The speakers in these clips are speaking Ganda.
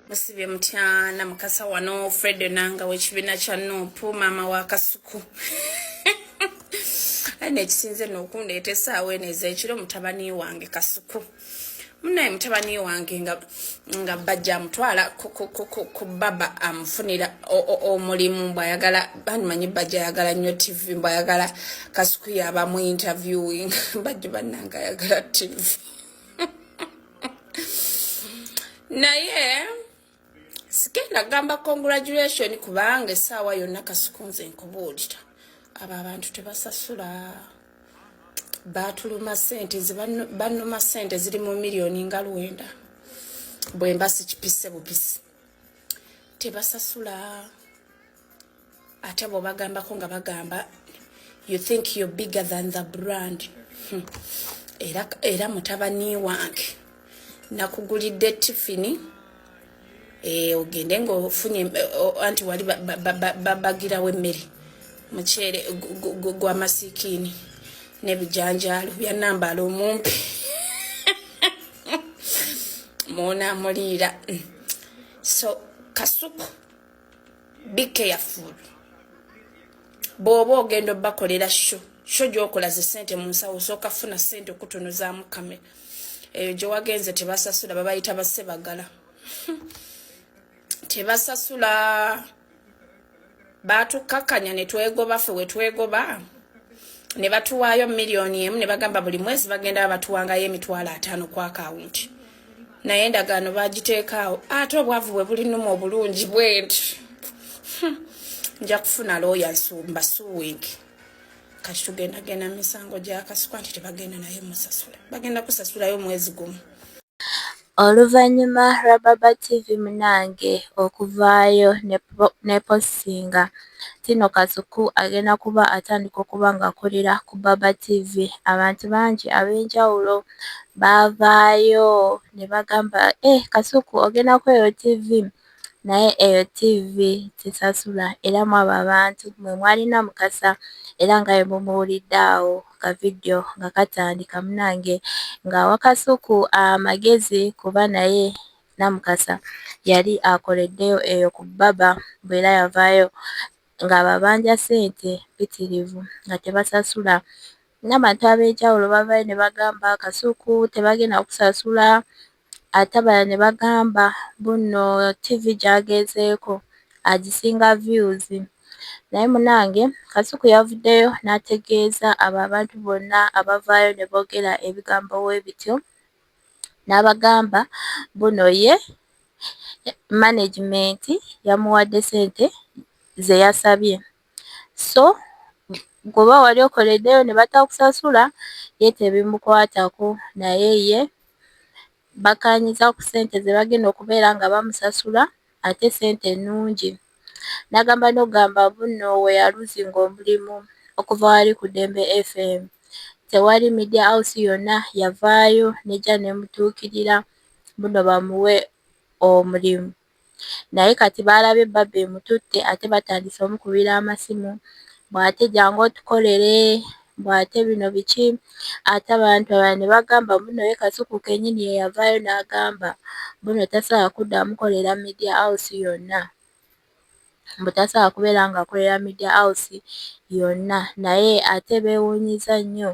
musibye mutyana mukasa wano fred nanga wekibina kya nupu mama wa kasuku aye nekisinze nokundeeta esaawa eno ezekiro mutabani wange kasuku munaye mutabani wange nga, nga bajja amutwala ku baba amufunira omulimu mbwayagala banimanyi bajja ayagala nnyo tv mbwayagala kasuku yabamu interviewing bajja bananga ayagala tv naye sigenda gamba congratulation kubanga esaawa yonna kasuku nze nkubuulira abo abantu tebasasula batuluma sente banuma sente ziri mu miliyoni nga lwenda bwemba sikipise bupisi tebasasula ate abo bagambako nga bagamba you think you're bigger than the brand hmm. era, era mutabani wange nakugulidde tifini eh, ogende nga ofunye anti wali babagirawo emmere mukyere gwamasikiini nebijanjaalo byanambala omumpi munamuliira hmm. so kasuku be careful bwoba ogenda obakolera sho sho gyokola ze sente mu nsawo osooka funa sente okutunuzaamu kamera eyo gyewagenze tebasasula babayita basebagala tebasasula batukakkanya netwegoba fe wetwegoba ne batuwaayo miliyoni emu ne bagamba buli mwezi bagenda batuwangayo emitwalo ataano ku akawunti naye endagaano bagiteekaawo ate obwavu bwe bulinuma obulungi bwenti hmm. nja kufuna looya nsumba suwink kati tugenda genda misango gyakasukwa nti tebagenda naye musasula bagenda kusasulayo mwezi gumu Oluvannyuma lwa Baba TV munange okuvaayo ne postinga Tino Kasuku agenda kuba atandika okuba ng'akolera ku Baba TV abantu bangi ab'enjawulo baavaayo ne bagamba eh Kasuku ogenda ku eyo ttivi naye eyo ttivi tesasula era mwabo abantu mwe mwalina Mukasa era nga bwe mumuwulidde awo ka vidiyo nga katandika munange ng'awa Kasuku amagezi kuba naye Namukasa yali akoleddeyo eyo ku bbaba bw'era yavaayo ng'ababanja ssente mpitirivu nga tebasasula N'abantu ab'enjawulo bavaayo ne bagamba Kasuku tebagenda kukusasula ate abalala ne bagamba mbu nno ttivi gy'agenzeeko agisinga vyuzi naye munnange Kasuku yavuddeyo n'ategeeza abo abantu bonna abavaayo ne boogera ebigambo bwe bityo n'abagamba mbu nno ye manegimenti yamuwadde ssente ze yasabye. so goba wali okoleddeyo ne batakusasula ye tebimukwatako naye ye bakaanyiza ku ssente ze bagenda okubeera nga bamusasula ate ssente nnungi n'agamba n'ogamba bunno we yaluzinga omulimu okuva wali ku Ddembe FM tewali media house yonna yavaayo n'ejja n'emutuukirira bunno bamuwe omulimu. naye kati baalabye bbabe emututte ate batandise omukubira amasimu bw'ate jangu otukolere bw'ate bino biki ate abantu abalala ne bagamba mbu nno ye Kasuku kennyini ye yavaayo n'agamba mbu nno tasobola kuddamu kukolera Media House yonna. mbu tasobola kubeera ng'akolera Media House yonna naye ate beewuunyizza nnyo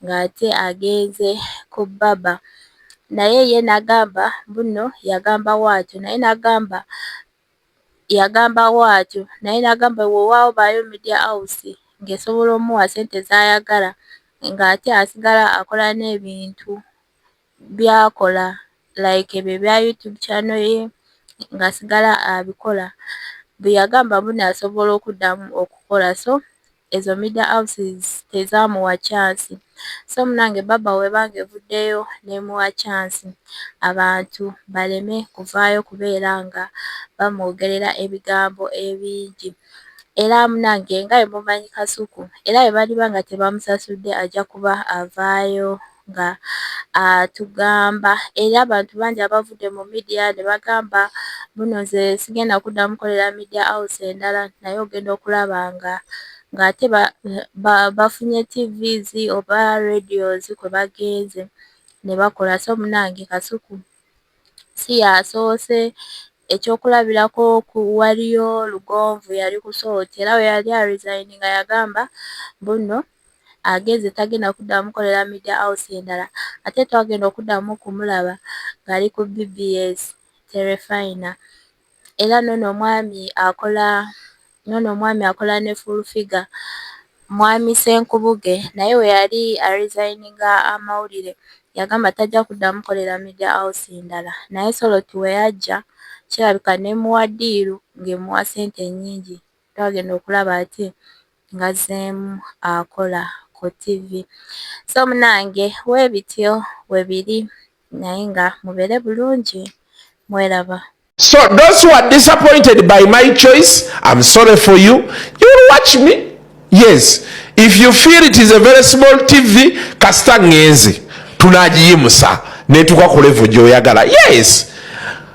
ng'ate agenze ku Baba naye ye n'agamba mbu nno yagamba bwatyo naye n'agamba yagamba bwatyo naye n'agamba weewaawo baayo Media House ng'esobola omuwa ssente z'ayagala ng'ate asigala akola n'ebintu byakola like ebyo ebya YouTube channel ye ngasigala abikola bweyagamba mbuno asobola okuddamu okukola so ezo media houses tezamuwa chance so munange baba webanga evuddeyo nemuwa chance abantu baleme kuvaayo kubeera nga bamwogerera ebigambo ebingi era munange nga emumanyi kasuku era ebaliba nga tebamusasudde ajja kuba avaayo nga atugamba era abantu bangi abavudde mu midiya ne bagamba buno nze sigenda kudda mukolera midiya house endala naye ogenda okulaba nga ng'ate bafunye tvs oba radios kwe bagenze ne bakola so munange kasuku si yasoose ekyokulabirako ku waliyo lugonvu yali kusooti era we yali arizayini nga yagamba buno agenze tagenda kuddamu mukolera media house endala ate twagenda okuddamu okumulaba ng'ali ku bbs terefayina era noono omwami akola noono omwami akola ne fulfiga mwami senkubuge naye we yali arizayininga amawulire yagamba tajja kuddamu mukolera media house endala naye soloti we yajja kirabika nemuwa ddiiru ng'emuwa ssente ennyingi. twagenda okulaba ati ngazeemu akola ku TV so munange webityo webiri naye nga mubere bulungi mweraba So those who are disappointed by my choice, I'm sorry for you. You will watch me. Yes. If you feel it is a very small TV, kasita ngenze. Tunajiyimusa. Netuka kulevu joyagala. Yes.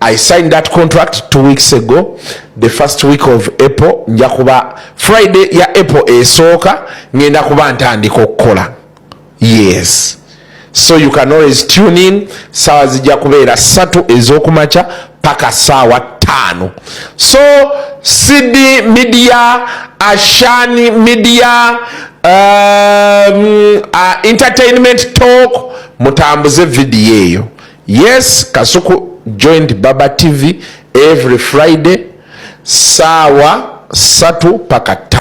I signed that contract two weeks ago the first week of April nja kuba Friday ya April esooka ngenda kuba ntandika okukola yes so you can always tune in saawa zijja kubeera ssatu ez'okumakya paka saawa ttaano so cd media ashani media um, uh, entertainment talk mutambuze vidiyo eyo Yes, Kasuku joined Baba TV every Friday saawa satu paka ta.